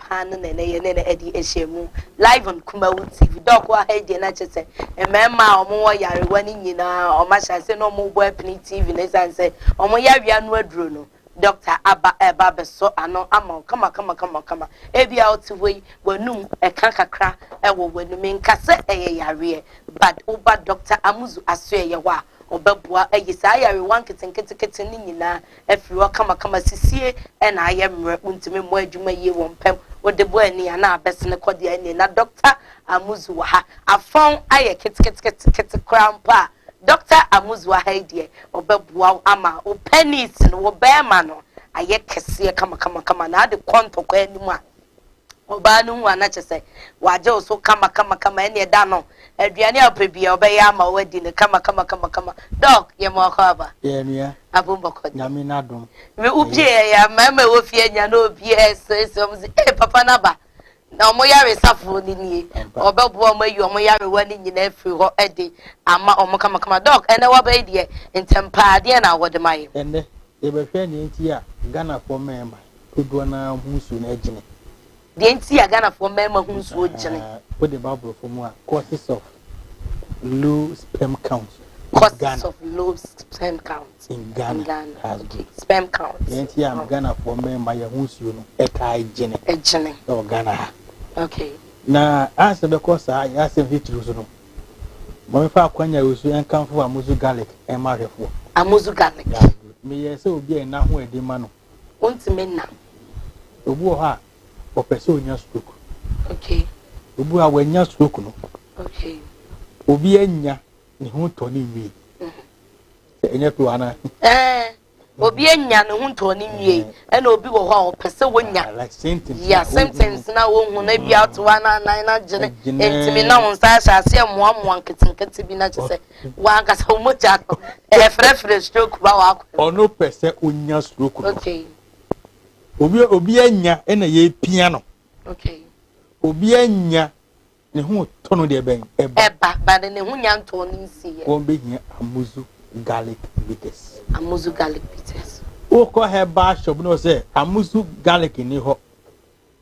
paa no na ɛnɛ yɛ ne no adi ahyiamu live on Kumawu TV. Doc wɔ ha yi deɛ na kyerɛ sɛ mmarima a wɔwɔ yarewa no nyinaa wɔn ahyɛ ase na wɔn rebɔ apini TV no ɛsiane sɛ wɔn yareɛ ano aduro no dɔkta aba ɛba abɛsɔ ano ama wo kama kama kama kama ebi a ɔte hɔ yi w'anum ɛka kakra ɛwɔ w'anum nka sɛ ɛyɛ yareɛ but woba dɔkta amuzu aso ɛyɛ hɔ a ɔbɛboa ayi saa yarewa nketenkete kete no nyinaa afiri hɔ kamakama. Sisie na ayɛ mmerɛ. Wontumi mmɔ adwuma yie wɔ mpam. Wode bɔ ani a na abɛsene kɔ deɛ ɛnnie. Na Dɔkta Amuzu wɔ ha. Afɔn ayɛ keteketekete koraa mpo a, Dɔkta Amuzu wɔ ha yi deɛ, ɔbɛboa wo ama wo pɛnis no, wo bɛɛma no ayɛ kɛseɛ kamakamakama. Na ade kɔ ntɔkwa anim a, Ɔbaa no hu a na kyerɛ sɛ wagye wo so kamakamakama, ɛnneɛ da no, aduane a wopɛ biara ɔbɛyɛ ama wo adi no kamakamakama. Doc, yɛ ma ɔkɔ aba. Yɛ nua. Abom bɔkɔ deɛ. Nyame n'adom. Me wo pie yɛ ya, mmarima a ɛwɔ fie anya na obiara ɛsresre wɔn se, ee papa no aba. Na wɔn yaresafoɔ no nie. Ɔbɛboa wɔn ayi wɔn yarewa no nyinaa afiri hɔ de ama wɔn kamakama. Doc, ɛnnɛ w'aba yi deɛ, ntɛm paa, deɛn na wɔde ma yɛ? Ɛnnɛ, yɛbɛhwɛ nea nti a Ghanafoɔ mmarima Dodoɔ no ara ho nsuo no agyene. Deɛ nti a Ghanafoɔ mmarima ho nsuo gyene. Wode ba aborɔfo mu a, causes of low sperm count. Causes of low sperm count in Ghana. Ghana. Okay. Sperm count. Deɛ nti a Ghanafoɔ mmarima yɛ ho nsuo no ɛtaa gyene. Ɛgyene. Ɛwɔ Ghana ha. Okay. Na ansa bɛkɔ saa yɛ asɛm titiriw so no, mɔmfa akwanya yi so nkamfo amuzu garlic ɛma ahwɛfoɔ. Amuzu garlic. Meyɛ sɛ obi a ɛna ho ɛde ma no. Wontumi nna. Obi wɔ hɔ a, ɔpɛ sɛ onya stroke. Okay. Obi wɔ a wanya stroke no. Okay. Obi anya ne ho tɔ ne nwie. Mm-hmm. Sɛ ɛnyɛ to ana. Ɛɛ eh, obi anya ne ho tɔ ne nwie eh. ɛna obi wɔ hɔ a ɔpɛ sɛ wonya. Ah, like symptoms. Yeah, symptoms na wohu na bi mm. ato anan anan na gyene ntumi na wɔn nsa ahyɛ aseɛ mmoamoa nketenkete bi na kyɛ sɛ. W'ankasa wo mogya no ɛrefrɛfrɛ stroke ba w'akwan mu. Ɔno pɛ sɛ onya stroke no. Okay. Obi obi anya ɛna yɛrepia no. Okay. Obi anya ne ho tɔ no deɛ bɛn ɛba. Ɛba ba de ne ho nya ntɔɔ no nsi yɛ. Wɔn bɛhia amuzu garlic bitters. Amuzu garlic bitters. Wokɔ herbal shop na ɔsɛ amuzu garlic ni hɔ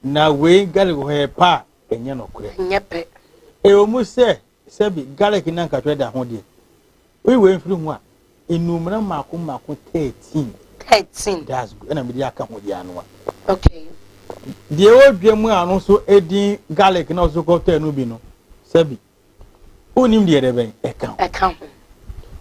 na wei garlic hɔ yɛ pa a ɛnyɛ nɔkorɛ. Ɛnyɛ pɛ. Ɛwɔ mu sɛ Sɛbi, garlic na nkatwɛ da ho deɛ. Woyi wei mfiri ho a, nnuomena mmaako mmaako thirteen. Thirteen. That's good. Ɛna mede aka ho deɛ anoa. Okay. Deɛ ɛwɔ dwa mu a ɔno nso edin garlic na ɔso kɔ tɛ no bi no, sɛbi. Wonim deɛ ɛdɛ bɛn ɛka ho. Ɛka ho.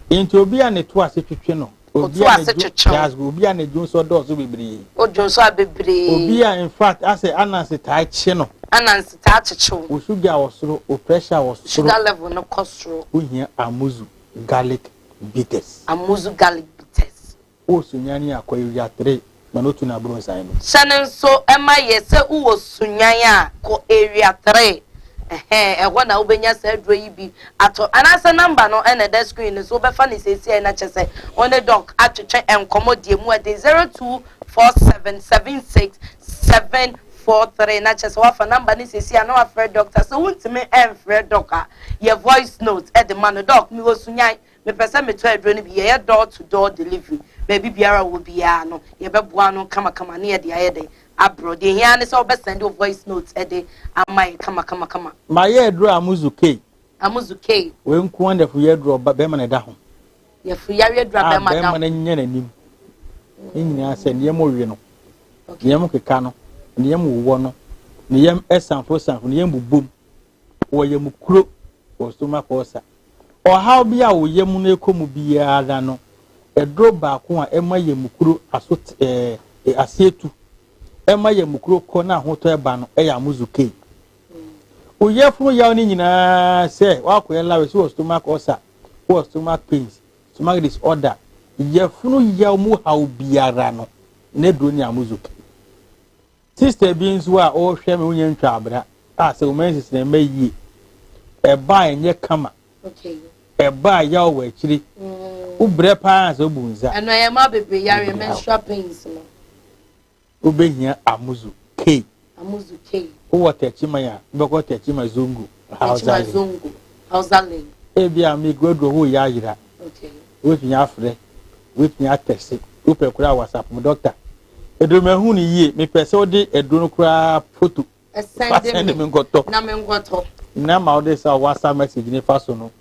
Nti obi a ne to ase twetwe no. Otu ase kyekyew. Obi a ne dwonso dɔɔso bebree. O dwonso a bebree. Obi a in fact asɛ anansi taa kye no. Anansi taa kyekyew. O sugar wɔ soro, o pressure wɔ soro. Sugar level no kɔ soro. Wohia amuzu garlic bitters. Amuzu garlic bitters. O sunyani akɔ ewia three. ma no tu n'abrɔsan no. Hyɛ no nso ma yɛ sɛ wowɔ Sunyani a, kɔ Area Three, ɛhɛɛ, ɛhɔ na wobɛnya saa aduro yi bi atɔ, anaasɛ number no na ɛda screen no so, wobɛfa no seesei na kyɛ sɛ wo ne Doc atwetwe nkɔmmɔ deɛ mu ɛden, zero two four seven seven six seven four three, na kyɛ sɛ woafa number no seesei a na woafrɛ Doctor, sɛ wontumi mfrɛ Doc a, yɛ voice note de ma no, Doc, mewɔ Sunyani, Mepɛ sɛ metɔ aduro no bi. Yɛyɛ door to door delivery. Baabi biara a ɔwɔ biara no, yɛbɛboa no kamakama ne yɛde ayɛ dɛn? Abrɔ. Deɛ ɛhia ara ne sɛ wobɛ send wo voice note de ama yɛn kamakamakama. Mayɛ aduro a Amuzu K. Amuzu K. Wei nko ara na yafunu yareduro a barima no da ho. Yafunu yareduro a barima da ho. A barima no nyɛ n'anim. Ne nyinaa sɛ ne yam owe no, ne yam keka no, ne yam wowɔ no, ne yam sanforo sanforo, ne yam bobom, wɔ yam kuro, wɔ stomach ulcer. Ɔhaw bi a wo yam no rekɔ mu biara no, aduro baako a ɛma yam kuro aso ɛɛ aseɛ tu, ɛma yam kuro kɔ na ahotɔ ɛba no ɛyɛ amuzu kei. Wo yafunu yaw no nyinaa sɛ wakɔyɛ lawrɛ so wɔ stomach ulcer, wɔ stomach pains, stomach disorder, yafunu yaw mu haw biara no, n'aduro ne amuzu kei. Sista bi nso a ɔrehwɛ me wonya ntwa abena a sɛ wɔn nsisi na ɛmɛ yie ɛba a ɛnyɛ kama ɛba a yaw wɔ akyire mm. wobrɛ paa sɛ wobu nsa. ɛno ɛyɛ ma bebree yare menstrual pains no. wobɛhia amuzu kei. amuzu kei. wowɔ tɛkyima ya wobɛkɔ tɛkyima zongo. Hausa Lingo. Hausa Lingo. Ebi a mi guaduro ho yɛ ayira. Wobɛtumi afrɛ, wobɛtumi atɛse, wopɛ koraa WhatsApp mu dɔkta. Aduro mu ɛho no yie, mepɛ sɛ wode aduro no koraa foto. Ɛsɛn de mi nkɔtɔ. Na mi nkɔtɔ. Na ma wode sa WhatsApp message ne fa so no.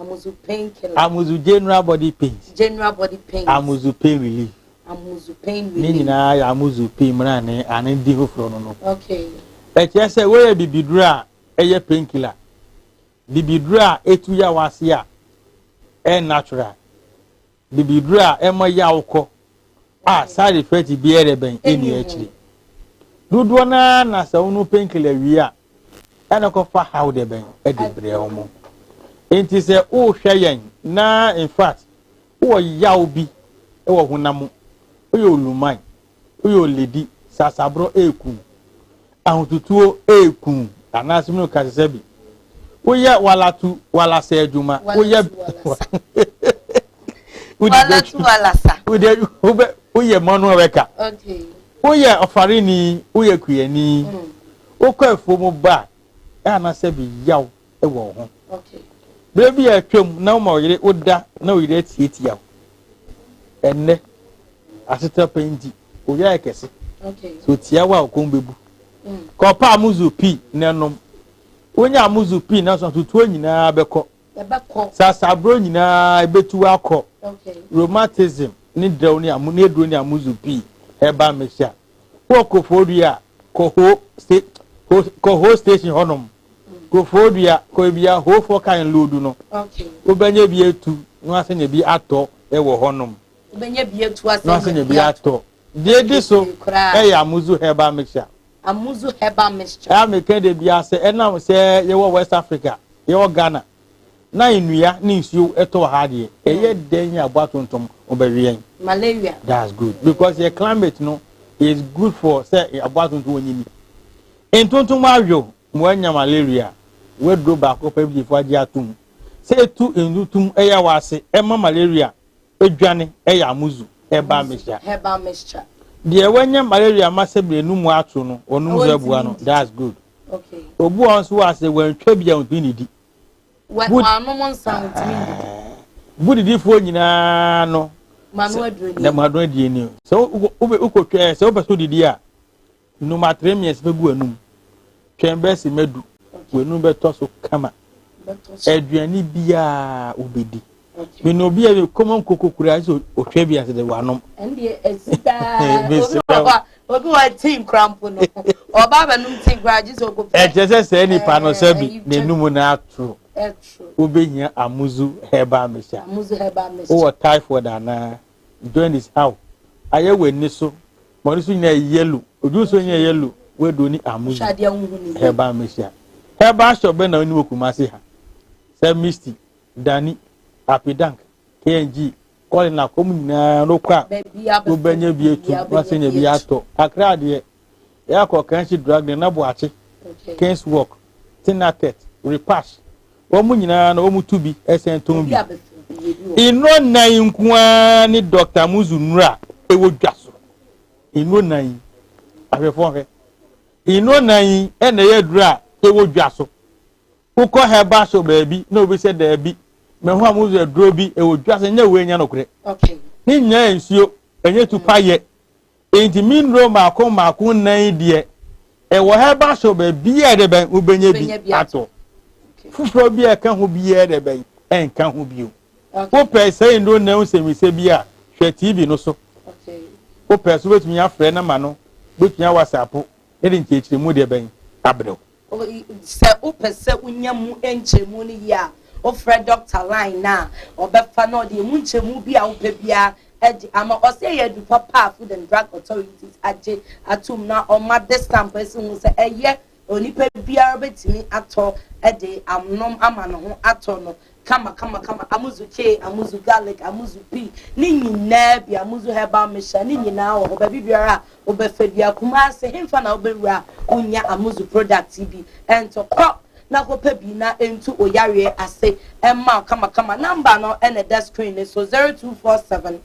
Amuzu pain killer. Amuzu general body pains. General body pains. Amuzu pain relief. Amuzu pain relief. Ne nyinaa yɛ amuzu pain mmerɛ ne ane di foforɔ no no. Okay. Ɛkyerɛ sɛ woyɛ bibiduro a ɛyɛ pain killer. Bibiduro a ɛtu yaw ase a ɛyɛ natural. Bibiduro a ɛma yaw kɔ a side effect biara rebɛn ɛnni akyire. Dodoɔ no ara na sɛ wonom painkiller wie a, ɛna ɛkɔfa haw de bɛn de brɛ wɔn. Nti sɛ wohwɛ yɛn na in fact wowɔ yaw bi wɔ honam mu, woyɛ oluman, woyɛ oledi, sasaborɔ eku, ahotutuo eku anaasɛ mene kasa sɛ bi. Woyɛ walatu walasa adwuma, woyɛ walatu walasa, woyɛ manual worker, woyɛ ɔfareni, woyɛ kuyani, wokɔ afuo mu ba anaasɛ bi yaw. wɔ wo ho. Berɛ bi a atwam na woma ɔyere wo da na ɔyere atiatia wo. Ɛnnɛ, asetena pa nti, ɔyɛ ayɛ kɛse. Sɛ ɔtia wo a ɔkɔm bɛbu. Mm. Kɔpa amuzu pii na ɛnom. Wonya amuzu pii na sotutuo nyinaa bɛkɔ. Sasaburo nyinaa ɛbɛtu akɔ. Rheumatism ne drɛw ne amu ne aduro ne amuzu pii ɛba mmɛhyia. Wɔ kofodua kɔhoo kɔhoo station hɔnom. kofoɔdua kɔɛ bi a hoofoɔ kan loodu no wobɛnyɛ bi atu no ase nyɛ bi atɔ wɔ hɔnom wobɛnyɛ bi atu ase no ase nyɛ bi atɔ deɛ di so ɛyɛ amuzu herbal mixture amuzu herbal mixture ɛyɛ meka de bi ase ɛnam sɛ yɛwɔ west africa yɛwɔ ghana na nnua ne nsuo ɛtɔ ha deɛ ɛyɛ hmm. dɛn yɛ aboa tontom wobɛweɛn malaria that's good because yɛ climate no is good for sɛ aboa tontom wɔnyini Ntontom mu ayow ma wɔanya malaria, Waduro baako pɛ gyefo agye atom sɛ etu ntontom yɛ wɔ ase ma malaria dwane yɛ amuzu, herbal mixture. Deɛ wanya malaria ama sɛ mmienu mu atoro no, ɔnom nso abua no, that's good. Obu a ɔnso wɔ ase wantwa bi a ɔntumi nnidi. Wanom nsa a ɔntumi nnidi. Bu didifoɔ nyinaa no. Manu aduro nie. Manu aduro nie nie. Sɛ wokɔtwa sɛ wopɛ sɛ wodidi a. Num atrɛmiɛs bɛ gu anum. Twɛn bɛ se mɛ du. W'anum bɛ tɔ so kama. Aduane biaa wo bɛ di. Mene obi a bɛ kɔmɔ nkoko kura se ohwɛ bi ase de w'anom. Ɛndeɛ asi daa. Obi wɔ ti nkura mpo no. Ɔba bɛ num ti nkura gye se ɔkɔ fie. Ɛkyɛ sɛ sɛ nipa no sɛ bi n'anum no atoro. Wo bɛ hia amuzu herbal mixture. Wo wɔ typhoid anaa. Join is out ayɛ w'ani so ma ɔno so nyɛ yellow odwiri so nyɛ yellow w'adu ni amu yi herbal mehyia herbal shop bɛ na ɔni wɔ kumase ha sɛ misty dani apidank kng kɔli na kɔm nyinaa no kɔ a wobɛnya bi etu wase nya bi atɔ kakra adeɛ Yɛ a kɔ Kanshi Drug ne na Boakye, King's Walk, Tinaket, Repash. Wɔn nyinaa no wɔn tu bi ɛsɛn tɔn bi. Nnuro nnan yi nko ara ne Dɔkta Muzu nnuro a ɛwɔ dwa so. Nnuro nnan yi, ahwɛfoɔ hwɛ. Nnuro nnan yi ɛna ɛyɛ aduro a ɛwɔ dwa so. Wokɔ herbal shop baabi na obi sɛ daabi mɛ ho a muzu aduro bi ɛwɔ dwa so nyɛ wei nyɛ nokorɛ. Ne nyinaa yɛ nsuo, ɛnyɛ tu payɛ. Enti me nnuro mmaako mmaako nnan yi deɛ, ɛwɔ herbal shop baabiara a ɛdɛbɛn wobɛnya bi atɔ. Foforɔ bi a ɛka ho biara dɛbɛn ɛnka ho bio. Wopɛ saa nnuro nnan ho nsɛmisa bi a, hwɛ TV no so. Wopɛ so wobɛtumi afrɛ nɔma no, wobɛtumi awɔsapo na yɛde nkyerɛkyerɛmu dɛbɛn abrɛ wo. Sɛ wopɛ sɛ wunya emu nkyɛmu no yie a, wofrɛ dɔkta line no a, ɔbɛfa na ɔde emu nkyɛmu bi a wopɛ biara agye ama. Ɔsɛ ɛyɛ aduru papa a Food and Drug Authority agye atom na ɔma de stamp asi ho sɛ ɛyɛ onipa biara betumi atɔ de anom ama ne ho atɔ no Kama kama kama Amuzu chee, amuzu garlic, amuzu pea, ne nyinaa bi, amuzu herbal mixture, ne nyinaa wɔ hɔ baabi biara a wobɛfa bi a, Kumasi henfa na wobɛwura a wonnya amuzu product yi bi ɛntɔ, kɔ na kɔpɛ bi na ɛntu wo yareɛ ase mma wo kama kama, number no na ɛda screen no so, 0247.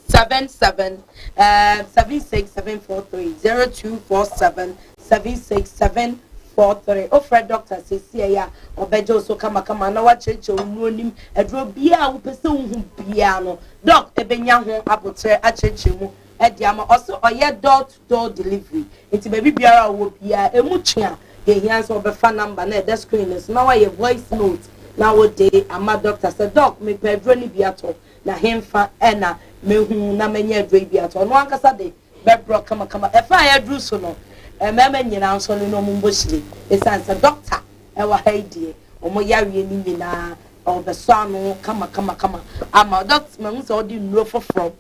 Seven seven um seven six seven four three zero two four seven seven six seven four three ofrɛ dɔkta seesie yi a ɔbɛgye wo so kamakama na wakyerɛkyerɛ wo mu onim aduro biara a wopɛ sɛ wohu biara no dɔk ɛbɛnya ho aboterɛ akyerɛkyerɛ mu ɛde ama ɔsɛ ɔyɛ door to door delivery nti baabi biara a ɔwɔ biara ɛmu twe a yɛhia sɛ wɔbɛfa namba na ɛda screen no so na wayɛ voice note na wode ama dɔkta sɛ dɔk mepɛ aduro no bi atɔ na henfa na mehu na manya aduro bi ato ɔno ankasa de bɛbrɔ kamakama ɛfa a yɛaduru so no mmarima nyinaa nso no na wɔn mbɔ hyire ɛsiane sɛ dɔkta ɛwɔ ha yi deɛ wɔn yareɛ no nyinaa ɔbɛsɔ ano kama kama kama ama dɔkta mahu sɛ ɔde nnuro foforɔ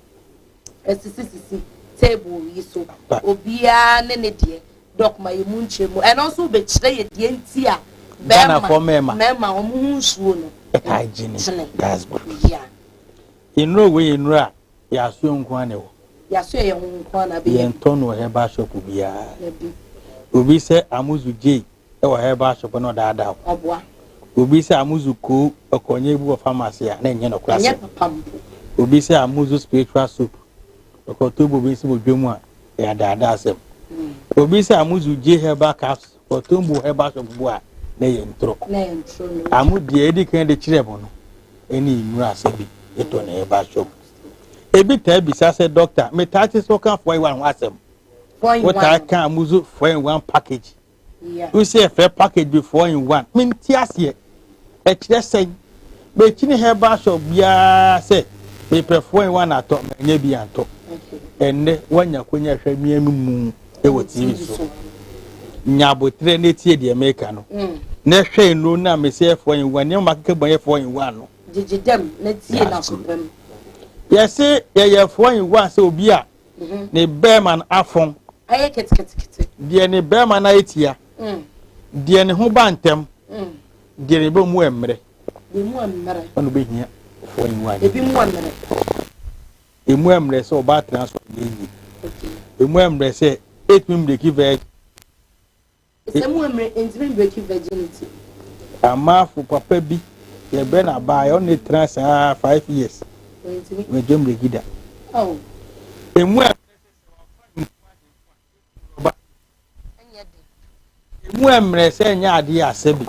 Ɛsisisisi table yi so. Obiara ne ne deɛ. Doc ma yɛ mu nkyerɛmu. Ɛno nso wobɛkyerɛ yɛ deɛ nti a bɛrima mmarima wɔn ho nsuo no ɛtaa gyini. That's good. Yeah. Nnuro wei yɛ nnuro a yɛasoɛ nko ara na ɛwɔ. Yɛasoɛ yɛn ho nko ara na bɛyɛ. Yɛntɔ no wɔ herbal shop biara. Obi sɛ amuzu gye wɔ herbal shop na ɔdaadaa wo. Ɔboa. Obi sɛ amuzu koo ɔkɔnyɛ bi wɔ pharmacy a na ɛnyɛ nɔkora sɛ. Ɛnyɛ papa mpo. Obi sɛ amuzu spiritual soap ɔkɔtɔ bobe nsi wɔ dwa mu a ɛyɛ adaadaa asɛm. Hmm. Obi sɛ amuzu gye herbal capsule ɔkɔtɔ mbu herbal shop bu a na ɛyɛ ntoro. Na ɛyɛ ntoro no. Amu deɛ edi kan de kyerɛ mu no ɛne nnuro asɛm bi ɛtɔ na herbal shop. Ebi taa bisa sɛ dɔkta metaa te sɛ ɔka fɔ yi wa ho asɛm. Fɔ yi wa. Wotaa ka amuzu fɔ yi wa package. Wo sɛ yɛfrɛ package bi four in one. Mente aseɛ. Ɛkyerɛ sɛn? Mekyini herbal shop biara sɛ mepɛ four in one atɔ manya bi antɔ. Ɛnnɛ woanya konya hwɛ me anumu wɔ TV so. Nya aboterɛ na tie deɛ meka no. Mm. Na hwɛ nnuro no a mesɛ yɛ four in one nneɛma makeka bɔ yɛ four in one no. Gyegye dɛm na tie na kopam. Yɛse yɛyɛ four in one sɛ obi a ne bɛrima no afõ, deɛ ne bɛrima no ayɛ tia, deɛ ne ho ba ntɛm, deɛ ne bɔ mu mmerɛ. Ɔno bɛhia foɔ ne wa. Ebi mu mmerɛ. Emu mmerɛ sɛ ɔbaa tena so yɛ yie. Emu mmerɛ sɛ etumi mmiriki vɛɛ. Sɛ mo mmere ntumi mbreki virginity. Amafo papa bi yɛ bɛ na baa yɛ ɔne tra saa five years wɛgye mbreki da. Emu a emu ɛmmerɛ sɛ ɛnyɛ adeɛ asɛ bi.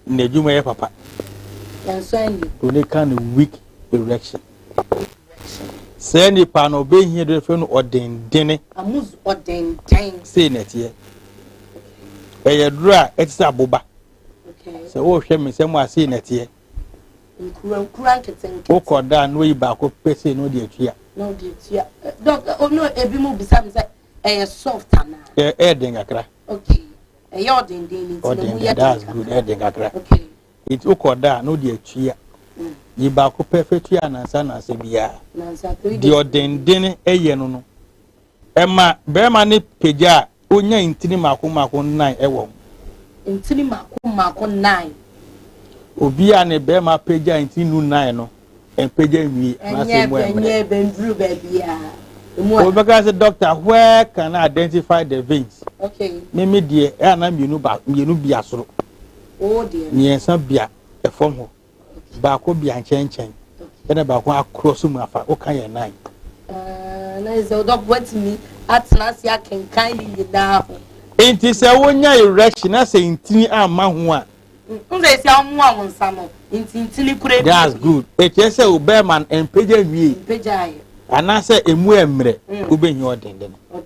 N'adwuma yɛ papa. Nanso ɛnde. Oni ka no weak erection. Saa nipa no obehia de fɛ no ɔdendene. Amuz ɔdenden. Sei na ɛteɛ. Ɛyɛ duro a ɛte sɛ aboba. Sɛ wohwɛ me nsɛm a sei na ɛteɛ. Nkurankura nketenkete. Wokɔ da a na oyi baako pɛ sei na ɔde atua. Na ɔde atua. Eh, dɔk, eh, ɔno ebi mu bisa me sɛ ɛyɛ soft anaa? Ɛyɛ den kakra. Okay. ɛyɛ ɔdenden ne nti na mu yɛ den kakra ɛden kakra okay nti wokɔ da a na wode atua mm. yi baako pɛ fɛtua nansa nansa biara deɛ ɔdenden ɛyɛ no no ɛma bɛrima ne pagya a onya ntini mako mako nan ɛwɔ mu ntini mako mako nan obi a ne bɛrima pagya ntini nu nan no Ɛpagya nwi anaasɛ emu ɛmmerɛ. Ɛnyɛ ɛbɛnduru baabi a. Wobɛka sɛ doctor where can I identify the veins? Okay. Me me deɛ ɛyɛ na mmienu ba mmienu bia soro. Oh dear. Mmiɛnsa bia ɛfam hɔ. Baako bia nkyɛnkyɛn. Ɛna baako akorɔ so mu afa woka yɛ nan. Ah, na ɛsɛ wodɔ bɔtumi atena ase akenkan ne nyinaa ho. Nti sɛ wonya erection na sɛ ntini amma ho a. That's good. Ɛkyerɛ sɛ wo bɛrima no mpagya nwie anaasɛ ɛmu ɛmmerɛ mm. wobɛhia ɔdenden no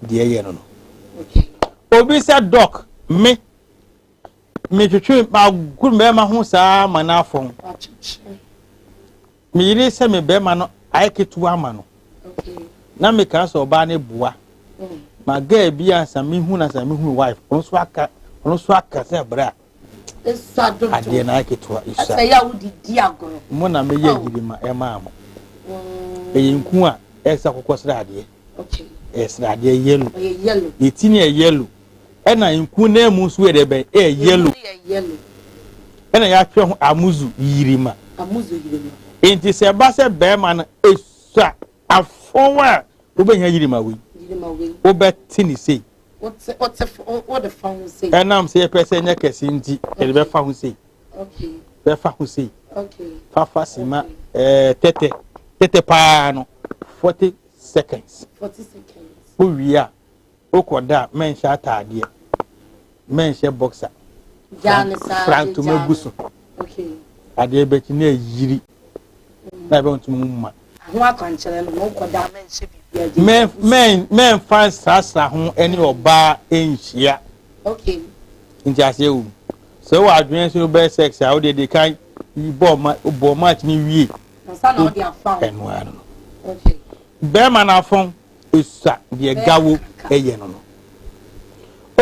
deɛ ɛyɛ no no obi sɛ dɔk me metwetwe magoro bɛrima ho saa ma no afɔn Me yere sɛ me barima no ayɛ ketewa ama no. Na me kaa sɛ ɔbaa ne boa. Ma girl bi ansa me hu na sa me hu wife. Ɔno so aka ɔno so aka sɛ bra. Esa do do. Adeɛ na ayɛ ketewa. Esa. Sɛ ya wo di di agorɔ. Mo na me yɛ yiri ma ɛmaa mo. Ɛyɛ nku a ɛsa kɔkɔ sradeɛ. Okay. Ɛyɛ sradeɛ yellow. Ɛyɛ yellow. Ne ti ne yɛ yellow. Ɛna nku no ɛmu nso yɛ dɛ bɛn ɛyɛ yellow. Ɛmu yɛ yellow. Ɛna yɛatwerɛ ho amuzu yirima. Amuzu yirima. Nti sɛ ɛba sɛ bɛrima no esua afɔw a wobɛnya yirima wei. Yirima wei. Wobɛte ne sei. Wote wote wode fa ho sei. Ɛnam sɛ yɛpɛ sɛ ɛnyɛ kɛse nti yɛde bɛfa ho sei. Okay. Bɛfa ho sei. Okay. Fafa sima ɛɛ eh, tɛtɛ tɛtɛ paa no forty seconds. Forty seconds. Wowie a. Wokɔ da a mɛnhyɛ ataadeɛ, mɛnhyɛ boxer, fra ntoma gu so, adeɛ bɛkyi na ayiri na ɛbɛ ntoma mu ma. Ho akwankyerɛ no, wokɔ da a mɛnhyɛ biribi agye. Mɛ mɛ mɛnfa nsrasra ho ɛne ɔbaa ɛnhyia. Okay. Nti aseɛ wom. Sɛ wɔ adwene nso bɛyɛ sex a wodeɛ de kan bɔ ma bɔ match ne wie. Nsa na wode afa ho. Ɛnoa no. Okay. Bɛrima no afɔn. Osa deɛ gawo ɛyɛ no no.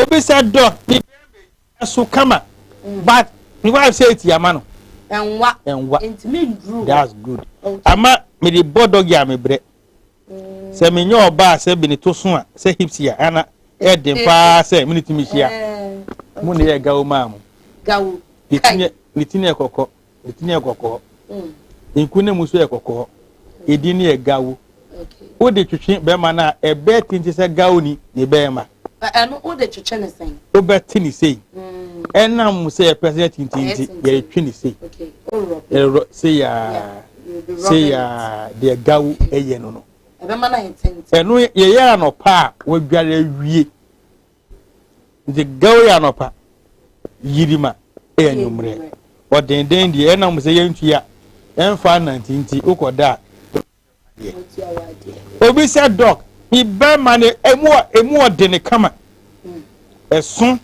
Obi sɛ dɔ ne ɛso kama but ne wife sɛ eti ama no. Ɛnwa. Ɛnwa. Ntumi nduru. That's good. Ama me de bɔ dɔgi a me brɛ. Sɛ me nyɛ ɔbaa sɛ bi ne to so a sɛ hips a ɛna ɛden paa sɛ me ne tumi hyia. Mo ne yɛ gawo maa mo. Gawo. Ne ti ne ɛkɔkɔ. Ne tini yɛ kɔkɔɔ. Mm. Nku ne mu nso yɛ kɔkɔɔ. Edin no yɛ gawo. Wode twetwe bɛrima no a ɛbɛɛ tente sɛ gawo ni ne bɛrima. Ɛno wode twetwe ne sɛn? Wobɛte ne sei. Mm. Ɛnam sɛ yɛpɛ sɛ yɛtintin nti yɛretwe ne sei. Ɛrɔ sei aa sei aa deɛ gawo ɛyɛ no no. Ɛno yɛyɛ anɔpa a wadware awie. Nti gɛw yɛ anɔpa, yirima yɛ anwummerɛ. Ɔdenden deɛ ɛna mo sɛ yɛntua ɛmfa nante nti wokɔ da a obi sɛ dɔk ne bɛrima no emu emu ɔde ne kama ɛso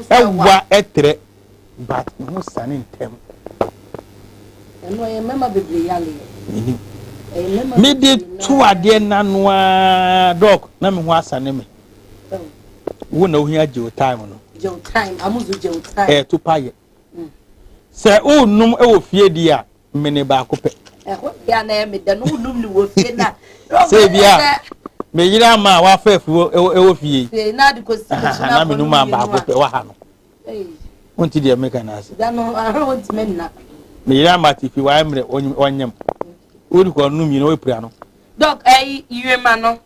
ɛwa ɛtrɛ but ɛho sane ntɛm. ɛno ɛyɛ mmarima bebree yale mede to adeɛ nanoa dɔk na me ho asane me wo na ohia gyew time no gyew time amuzu gyew time eh to pa ye mm. sɛ o num e wo fie di a mene ba ko pe eh ho ya na e me da no num ni wo fie na sɛ bia me yira ma wa fa fuo e wo fie fie na de ko si na me num ba ko pe wa ha no eh won ti de me kan ase da no ahwe won ti me na me yira ma ti fi wa emre onyem wodi ko num yi no e pira no dok eh yema no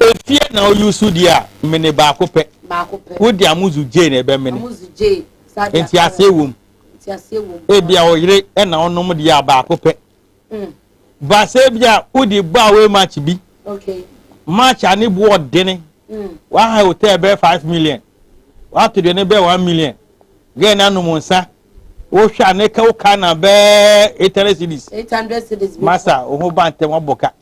Efie na oyusu deɛ a, mene baako pɛ. Wo deɛ amuzu gyee na ɛbɛ mene. Nti aseɛ wom. Ebia oyere na onom deɛ a baako pɛ. Mm. Baasa ebia wodi bɔ a wei match bi. Okay. Match a ne boɔ dene. Mm. Waha hotel bɛɛ five million. Wato deɛ ne bɛɛ one million. Gɛɛ na anom nsa. Wohwɛ a ne ka wo ka na bɛɛ eight hundred cedis. Eight hundred cedis bi. Masa, wo ho ba ntɛm wabɔ ka.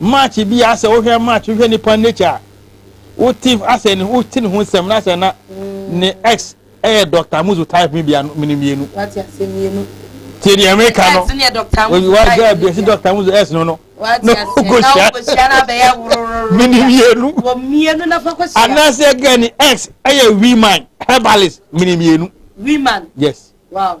March bi a sɛ wohwɛ March wohwɛ nipa nature a wote asɛ ne wote ne ho nsɛm na asɛ na ne ex ɛyɛ Dr. Amuzu type mi bia no mene mmienu. Wate asɛ mmienu. Tie deɛ meka no. Ex ne yɛ Dr. Amuzu type. Wagya bi ɛsi Dr. Amuzu ex no no. Wate asɛ na wokohyia na abɛyɛ worororo. Mene mmienu. Wɔ mmienu na fa kɔhyia. Anaasɛ gɛ ne ex ɛyɛ woman herbalist mene mmienu. Woman. Yes. Wow.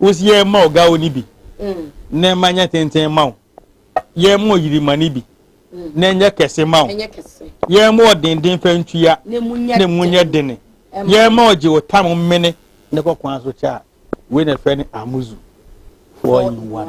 Wosi yɛ ma ɔgawo ni bi, na ɛma nyɛ tenten ma wo. Yɛ ma ɔyirima ni bi, na ɛnyɛ kɛse ma wo. Yɛ ma ɔdenden fɛ ntua, na emu nyɛ dene. Yɛ ma ɔgye wo tam mene ne kɔkɔn aso kyɛ a. Wei na ɛfrɛ no amuzu, four in one.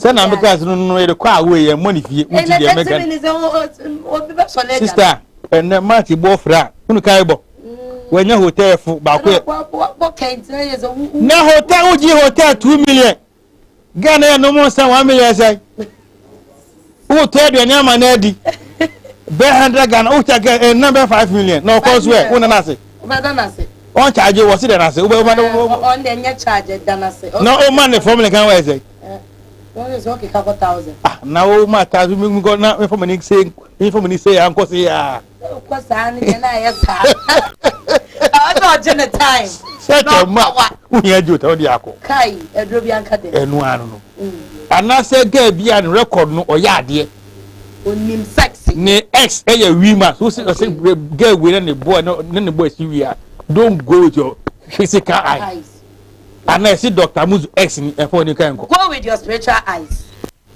sɛ na meka se no no yɛde kɔ a woyɛ mmɔ ne fie woti deɛ meka sister ɛnɛ mate boɔ frɛ a wone kae bɔ wanya hotel fo baako yɛ na hotel wogye hotel two million ghana yɛ nom nsa one million sɛ wo tɔ aduane ama no adi bɛ hundred ghana wo kyɛ kɛ ɛnna bɛ five million na ɔkɔ so ɛ wo nana ase ɔn charge wɔ si dana ase wo bɛ ɔma na ɔma ne fɔm ne kan wɔ ɛsɛ na wo ma ta so mi nkɔ na mi fɔm ni se mi fɔm ni se ya nkɔ se ya. wokɔ saa no deɛ na ayɛ saa ɛsɛ ɔgye ne time sɛkyɛ ma wohia gye ota wode akɔ kai aduro bi anka dɛ ɛno ano no anaasɛ gaa bi a no record no ɔyɛ adeɛ onim sex ne ex ɛyɛ wi ma so sɛ ɔsɛ gaa wei na ne boy ne ne boy si wi a don't go with your physical eyes ana ɛsi doctor muzu ex ni ɛfɔ ne kan kɔ go with your spiritual eyes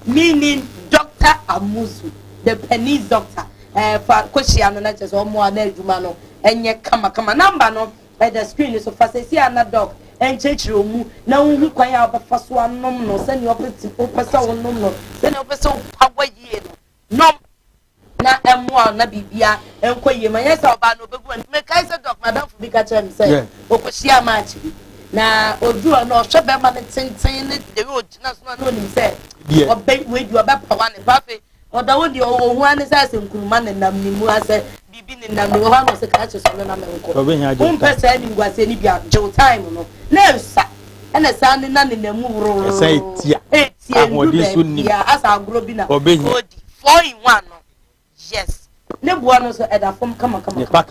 Meaning Doctor Amuzu, the Penny's doctor. Eh, fa kohyia no na kyerɛ sɛ ɔmo a na adwuma no ɛnyɛ kama kama. Number no ɛda screen no so. Fa sɛsi a na doc ɛnkyerɛkyerɛ ɔmu na wohu kwan a wobɛfa so anom no sɛnea ɔpɛ sɛ wonom no, sɛnea ɔpɛ sɛ wopawa yie no. Nom. na ɛmmoa wo na biribia nkɔ yie ma nyɛ sɛ ɔbaa no ɔbɛgu ani mekae sɛ dɔk madamfo bi ka kyerɛ me sɛ ɔkɔhyia match bi na ɔdu hɔ na ɔhwɛ bɛrima no tenten ne deɛ ɔgyina so na na ɔnim sɛ ɔbɛ wei deɛ ɔbɛpawa ne pa afei ɔda hɔ deɛ ɔhu ane sɛ asɛ nkuruma ne nam ne mu asɛ biribi ne nam ne wɔ hɔ ano sɛ kakye so ne nam nkɔ wompɛ saa animguaseɛ no bi a gyew time no na ɛsa ɛna saa ne na ne nam mu worororo ɛtia ahoɔden so nnim.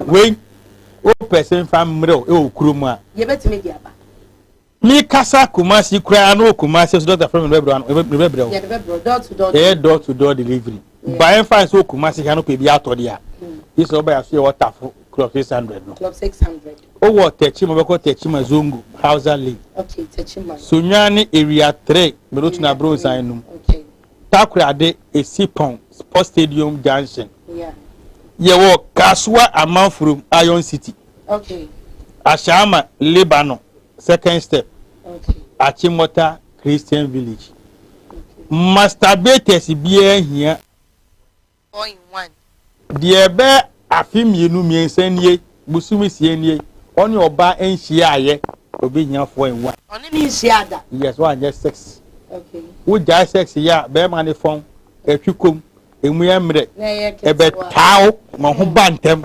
Wei wopɛ sɛ mfa mmerɛw wɔ kurom a mekasa Kumasi koraa na wɔ Kumasi so dɔkta frɛ me no bɛbrɛ no bɛbrɛ wo ɛyɛ door to door delivery Ba ɛmfa ne sɛ wɔ Kumasi ha no pɛ bi atɔ deɛ a, gye sɛ wobɛyɛ aso yɛ wɔ Tafo Club 600 no. Club 600. Wowɔ Tɛkyima bɛkɔ Tɛkyima Zongo, Hausa Lane. Okay, Tɛkyima. Sunyani ne Area 3, Merotuna mm, Bronsan mm, nom. Okay. Takorade, Esipɔn, Sports Stadium Junction. Yeah. Yɛwɔ Kasoa Amanfurom, Iron City. Okay. Ashaama, Lebanon, second step. Okay. Achimota, Christian Village. Masturbators biara hia four in one. Deɛ ɛbɛ afe mmienu mmiɛnsa nie bosome sie nie ɔne ɔba nhyiaeɛ obi hia four in one. Ɔne ne nhyia da. Yes, wanyɛ sex. Okay. Wogyae sex yɛ a bɛrima ne fɔn ɛtwe kom emu yɛ mmerɛ ɛbɛtaa wo ma ho ba ntɛm.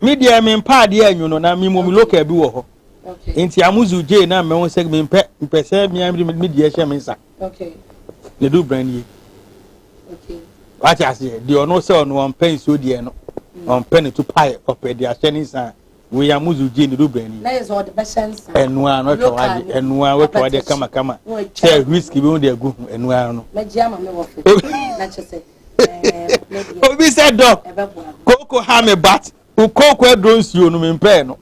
Me deɛ me mpa adeɛ anyu no na me mom local bi wɔ hɔ nti amuzu gye na me ho sɛ me mpɛ mpɛ sɛ me amiri me deɛ hyɛ me nsa ne do brand yi wate aseɛ deɛ ɔno sɛ ɔno ɔmpɛ nsuo deɛ no ɔmpɛ ne to pae ɔpɛ deɛ ahyɛ ne nsa a wei amuzu gye ne do brand yi ɛnoa no atwa wade ɛnoa watwa wade kama kama sɛ whisky bi ho deɛ gu ho ɛnoa no obi sɛ dɔ kooko ha me bat kooko aduro nsuo no mempɛɛ no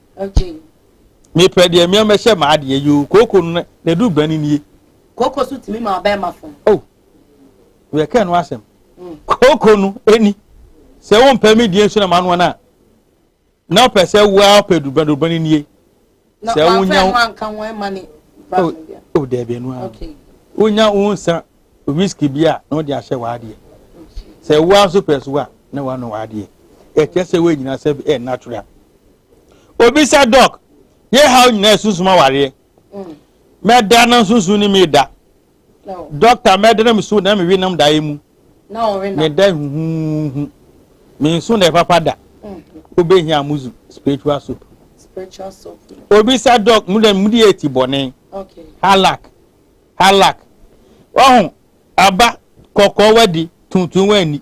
mepɛ deɛ mmea mɛhyɛ maa deɛ yi o kooko no na ɛdu gba ne nie kooko so tumi ma ɔbɛn ma fam o oh, yɛkɛ no asɛm mm. kooko no ɛni sɛ wompɛ me deɛ nsuo na ma noa no a Na ɔpɛ sɛ wo ara pɛ durubɛn durubɛn no nie. Sɛ wonya wo anka ho ɛma ne ba no bia. O dɛbi ɛnu ara. Wonya wo nsa whisky bi a na ɔde ahyɛ w'adeɛ. Sɛ wo ara nso pɛ so a na wano w'adeɛ. Ɛkyɛ sɛ wo nyina sɛ ɛyɛ natural. Obi sa dɔk, yɛ haw nyina ɛsunsum awareɛ. Mɛda na nsunsun ni mi da. Dɔkta, mɛdene me so na me wenom daeɛ mu. Meda huhuuhu. Me nso na ɛpapa da. Wobɛhia Amuzu spiritual soap. Obisa dɔk, mu dɛ mudi eti bɔne. Halak. Halak. Wahu, aba, kɔkɔɔ wadi, tuntum wanni.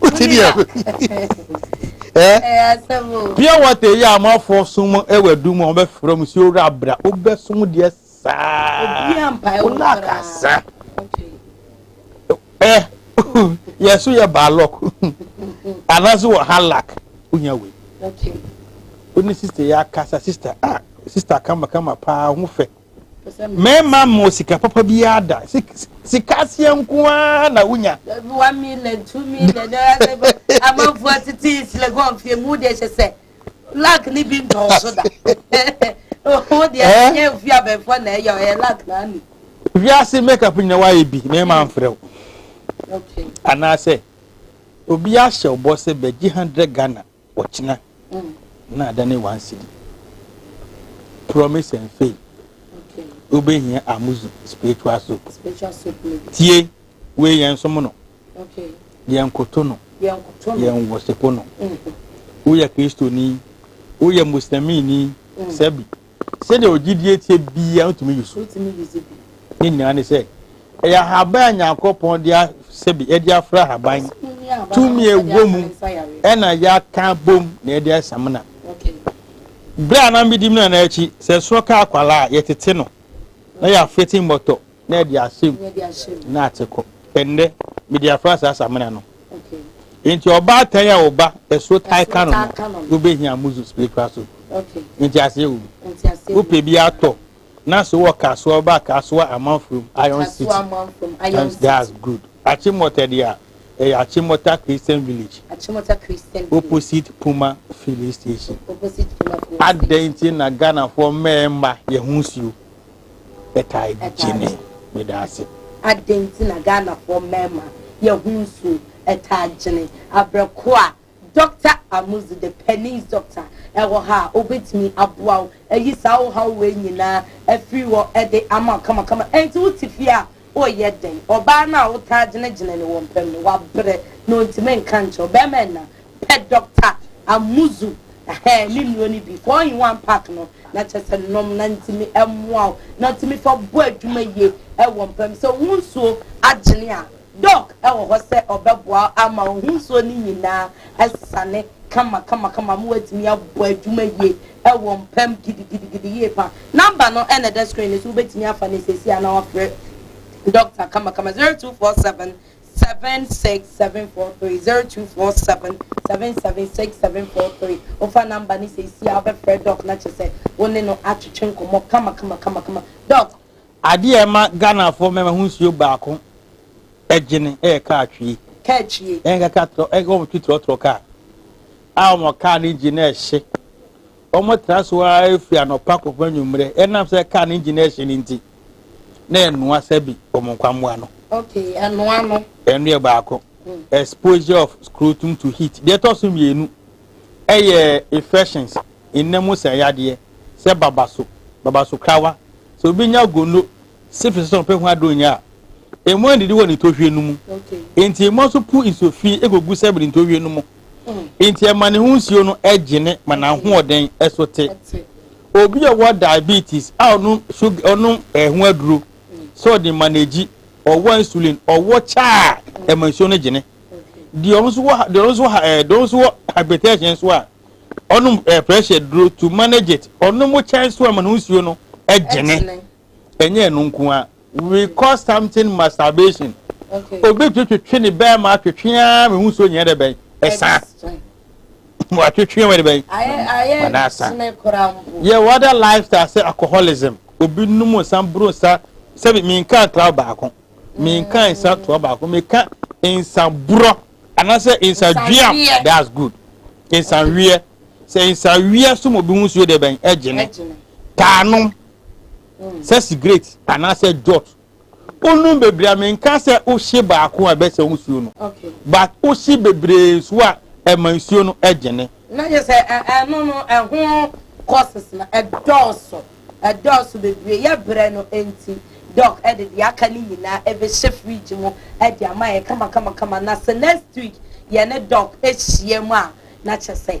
wote deɛ pure water yi a amanfoɔ som wɔ adu mu a wɔbɛfrɛ mu sɛ owura abra wobɛsom deɛ saa wonakasa ɛ yɛ so yɛ baalɔk anaasɛ wɔ halak wonya wei wone sister yɛ akasa sister a ah, sister kamakama paa ho fɛ Mɛmma mo sika papa biara da. Sika aseɛ nko ara na wonya. One million, two million, amanfo atete sika gu ɔmfie mu deɛ hyɛ sɛ lak ne bi ntɔɔso da. Wo deɛ ɛnyɛ ofi abɛnfoɔ na ɛyɛ ɔyɛ lak na ani. Wiase makeup nyina woayɛ bi na ɛma mfrɛ wo. Anaasɛ obi ahyɛ ɔbɔ sɛ bɛgye 100 Ghana Ɔkyena na adane one cedi promise and fail wobɛhia amuzu spiritual soap tie wei yɛn nsom no yɛn koto no yɛn wɔsepo no woyɛ kristoni woyɛ muslimini sɛbi Sɛnea ogyidie teɛ biara ntumi yi so. Ne nyinaa ne sɛ, ɛyɛ ahaban a Nyankopɔn de sɛbi ɛde afra ahaban tumi a ɛwɔ mu ɛna yɛaka abom na ɛde ayɛ samina. Berɛ a na medi Mena no akyi, sɛ ɛsoɔ ka akwadaa a, yɛtete no na yɛafete mmɔtɔ na ɛde ahyɛ mu na ate kɔ. Ɛnnɛ, mede afra asaase amena no. Nti ɔbaatan a ɔba ɛso tae ka no no, wobɛhia muzu spiritual soap. Nti aseɛ wɔ mu. Wopɛ bi atɔ na so wɔ kasoa ba kasoa amanfrom iron city times that's good achimota deɛ a ɛyɛ achimota christian village opposite puma filling station adɛn nti na ghanafoɔ mmarima yɛ ho nsuo bɛtaa gye me. Meda ase. Adɛn nti na Ghanafoɔ mmarima yɛ ho nsuo taa gyene abrɛ ko a? Doctor Amuzu the Pennies Doctor wɔ ha a ɔbɛtumi aboa wo ayi saa wo haw wei nyinaa afiri hɔ de ama wo kamakama. Ɛnti wo te fie a woyɛ dɛn? Ɔbaa no a wo taa gyene gyene no wɔ mpam no wabrɛ na ɔntumi nka nkyerɛ wo. Barima nna Pɛ Doctor Amuzu ɛhɛɛ me nnuro no bi four in one pack no na kyerɛ sɛ nom na ntumi ɛmmoa wo na ɔtumi fa bɔ adwuma yie ɛwɔ mpa mu. Sɛ wo ho nsuo agyene a, Doc ɛwɔ hɔ sɛ ɔbɛboa wo ama wo ho nsuo no nyinaa asane kama kama kama ma woatumi abɔ adwuma yie ɛwɔ mpa mu gidigidigidi yie pa. Number no ɛna ɛda screen no so, wobɛtumi afa no seesei ara na wafrɛ Doctor kama kama zero two four seven Seven six seven four three zero two four seven seven seven six seven four three wofa namba ne seesia wobɛfrɛ dɔk na kyerɛ sɛ wo ne no atwetwe nkɔmmɔ kamakamakama dɔk. Adeɛ a ɛma Ghanafoɔ mmarima ho nsuo baako gyene yɛ kaa twie. Kaa twie. Ɛyɛ nka kaa trɔ ɛyɛ wɔn tu trɔtrɔ kaa a wɔn kaa ne engine na ɛhye. Wɔn tra so ara firi anɔpa kɔpem anwummerɛ ɛnam sɛ kaa ne engine ɛhye ne nti. na ɛnoa sɛbi wɔn nkwammoa no. Okay, ɛnoa no. Ɛno yɛ baako. Mm. Exposure of scrotum to heat. Deɛ ɛtɔ so mmienu ɛyɛ infections, nna mu sɛ yadeɛ, sɛ babaso, babaso krawa. Sɛ obi nya gono, syphilis sɛ ɔpɛ ho aduro nya a, emu adidi wɔ ne ntɔhwie no mu. Okay. Nti emu nso pu nsuo fi egogu sɛbi ne ntɔhwie no mu. Enti ɛma ne ho nsuo no gyene ma n'ahoɔden so te. Obi a ɔwɔ diabetes a ɔnom sugar ɔnom ɛho aduro sɛ ɔde ma n'egyi ɔwɔ insulin ɔwɔ kyɛ a ɛma nsuo no gyene. Deɛ ɔno nso wɔ deɛ ɔno nso ha ɛɛ deɛ ɔno nso wɔ hypertension nso a ɔnom ɛɛ pressure duro to manage it ɔnom kyɛ nso ɛma ne ho nsuo no gyene. ɛnyɛ ɛno nko ara we call something masturbation okay. obi twetwe ne bɛɛ ma atwetwe ara me hu so nyɛ dɛ bɛn ɛsa mo atwetwe wɔ de bɛn ɔda asa yɛ wɔda lifestyle sɛ alcoholism obi num nsa buru nsa sɛbi mi nka cloud baako mi nka mm. nsa toɔ baako mi ka nsa burɔ anaasɛ nsa dua that's good nsa wiɛ sɛ nsa wiɛ so mo bi hu so yɛ dɛ bɛn ɛgyene taanom. sɛ sigaret anaasɛ jot wonom bebree a menka sɛ wohye baako a ɛbɛsɛ wo nsuo no but wohye bebree nsuo a ɛma nsuo no gyene na yɛ sɛ ɛno no ɛho courses na ɛdɔɔso ɛdɔɔso bebree yɛ brɛ no nti dɔk ɛde deɛ aka no nyinaa ɛbɛhyɛ fridge mu ɛde ama yɛ kama kama kama na sɛ next week yɛne dɔk ahyia mu a na kyɛ sɛ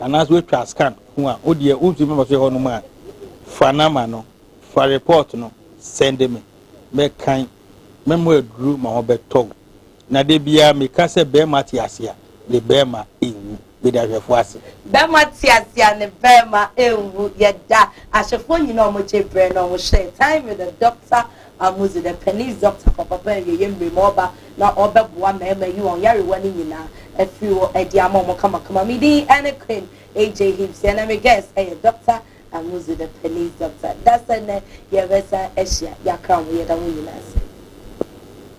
anaasɛ woatwa scan ho a, wo deɛ wontumi mma so hɔnom a, fa number no, fa report no send me. Mɛkan, mɛma aduru ma wɔbɛtɔ wo. Na da biara meka sɛ barima te ase a, ne barima nwu. Meda ahwɛfoɔ ase. Bɛrima te ase a ne bɛrima nwu yɛda ahwɛfoɔ nyinaa a wɔgye berɛ na wɔhyɛɛ time with the doctor a modzi dɛ panyin dɔkta papaapa a yɛyɛ mber mu ɔba na ɔbɛboa mmarima eyi hɔn yarewar ne nyina efir hɔ dze ama hɔn kamakama. Me dzin nye Queen AJ Hibsey na me guest yɛ Dɔkta a modzi dɛ panyin dɔkta. Dasɛ ndɛ yɛbɛsan ehyia, yɛakã ho, yɛda hɔn nyina ase.